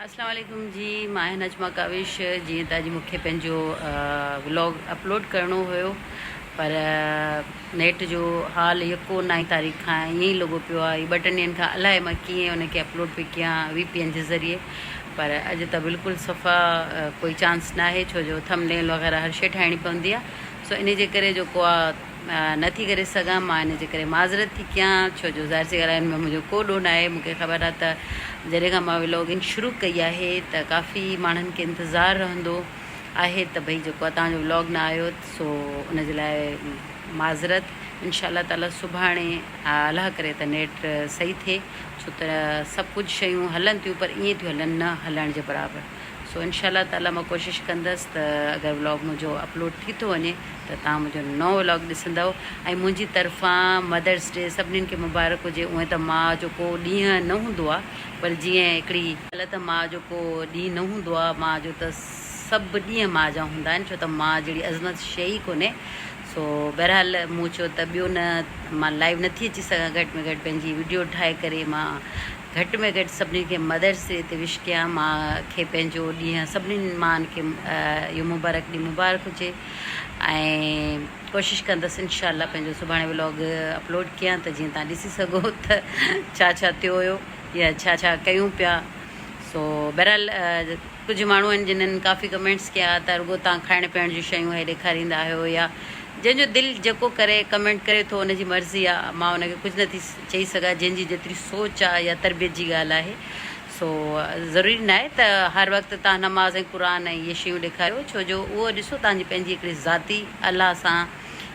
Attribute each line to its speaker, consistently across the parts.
Speaker 1: اسلام عليڪم جي مان آهيان نجمه ڪاوش جيئن ته اڄ مونکي پنهنجو ولاگ اپلوڊ ڪرڻو هيو پر نيٽ جو حال يڪو نائين تاريخ کان ائين ئي لڳو پيو آهي ٻه ٽن ڏينهن کان الاهي مان ڪيئن ان کي اپلوڊ پي ڪيان وي پي اين جي ذريعي پر اڄ ته بلڪل صفا ڪوئي چانس ناهي ڇو جو ٿم نيل وغيره هر شي ٺاهڻي پوندي آهي سو ان جي ڪري جو ڪو نه ٿي ڪري سگهان، مان ان جي ڪري معذرت ٿي ڪيان ڇو جو ظاهر سي ڳالهه هن ۾ منهنجو ڪو ڏوهه ناهي، مون کي خبر آهي ته جڏهن کان مان ولاگنگ شروع ڪئي آهي ته ڪافي ماڻهن کي انتظار رهندو آهي ته ڀئي جيڪو آهي توهانجو ولاگ نه آيو سو ان جي لاء معذرت انشاء الله تعالي سڀاڻي الله ڪري ته نيٽ صحيح ٿئي ڇو ته سڀ ڪجهه شيون هلن ٿيون پر ائين ٿيون هلن نه هلڻ جي برابر. سو انشاء الله تعاليٰ مان ڪوشش ڪندس ته اگر ولاگ منهنجو اپلوڊ ٿي ٿو وڃي ته توهان منهنجو نئون ولاگ ڏسندؤ ۽ منهنجي طرفان مدرس ڊي سڀنين کي مبارڪ هجي اونئن ته ماء جو ڪو ڏينهن نه هوندو آ پر جيئن هڪڙي ڳالهه ته ماء جو ڪو ڏينهن نه هوندو آ ماء جو ته سڀ ڏينهن ماء جا هوندا آهن ڇو ته ماء جهڙي عظمت شيء ئي ڪونهي سو بهرحال مون چيو ته ٻيو نه مان لائيو نٿي اچي سگهان گهٽ ۾ گهٽ پنهنجي وڊيو ٺاهي ڪري مان گهٽ ۾ گهٽ سڀني کي مدرسي تي وش ڪيان ماء کي پنهنجو ڏينهن سڀني ماءن کي اهو مبارڪ ڏينهن مبارڪ هجي ۽ ڪوشش ڪندس انشاء الله پنهنجو سڀاڻي ولاگ اپلوڊ ڪيان ته جيئن تان ڏسي سگهو ته ڇا ڇا ٿيو هيو يا ڇا ڇا ڪيون پيا سو بهرحال ڪجهه ماڻهو آهن جنن ڪافي ڪمينٽس ڪيا ته رڳو تان کائڻ پيئڻ جون شيون هي ڏيکاريندا آهيو يا جنهنجو دل جيڪو ڪري ڪمينٽ ڪري ٿو ان جي مرضي آهي مان ان کي ڪجهه نه ٿي چئي سگهان جنهن جي جيتري سوچ آ يا تربيت جي ڳالهه آهي سو ضروري ناهي ته هر وقت تهان نماز ۽ قرآن ۽ اهي شيون ڏيکاريو ڇو جو اهو ڏسو تهان جي پنهنجي هڪڙي ذاتي الله سان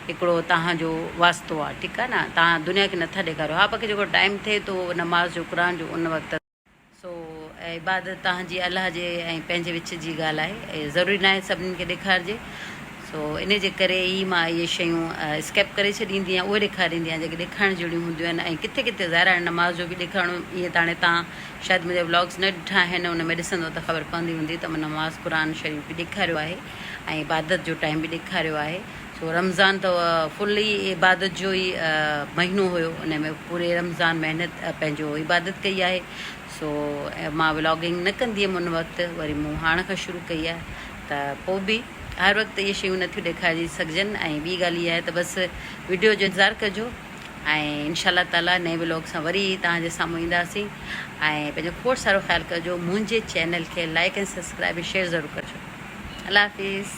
Speaker 1: هڪڙو تهان جو واسطو آ ٺيڪ آ نه تهان دنيا کي نٿا ڏيکاريو ها باقي جيڪو ٽائيم ٿئي ٿو نماز جو قرآن جو ان وقت سو اهي عبادت توهان جي الله جي ۽ پنهنجي وچ جي ڳالهه آهي ۽ ضروري ناهي سڀني کي ڏيکارجي. سو انهي جي ڪري ئي مان اهي شيون اسڪيپ ڪري ڇڏيندي آهيان اهي ڏيکاريندي آهيان جيڪي ڏيکارڻ جهڙيون هونديون آهن ۽ ڪٿي ڪٿي ظاهر هاڻي نماز جو به ڏيکارڻو ائين ته هاڻي توهان شايد منهنجا ولاگز نه ڏٺا آهن ان ۾ ڏسندو ته خبر پوندي هوندي ته مان نماز قرآن شريف به ڏيکاريو آهي ۽ عبادت جو ٽائيم به ڏيکاريو آهي سو رمضان ته فل ئي عبادت جو ئي مهينو هيو ان ۾ پوري رمضان محنت پنهنجو عبادت ڪئي آهي سو مان ولاگنگ نه ڪندي هيم ان وقت وري مون هاڻ کان شروع ڪئي آهي ته پوء به هر وقت اهي شيون نٿيون ڏيکاري سگهجن ۽ ٻي ڳالهه هي آهي ته بس ويڊيو جو انتظار ڪجو ۽ انشاء الله تعالي نئين ولاگ سان وري توهان جي سامهون اينداسين ۽ پنهنجو کوڙ سارو خيال ڪجو منهنجي چينل کي لائڪ ۽ سبسڪرائب ۽ شيئر ضرور ڪجو الله حافظ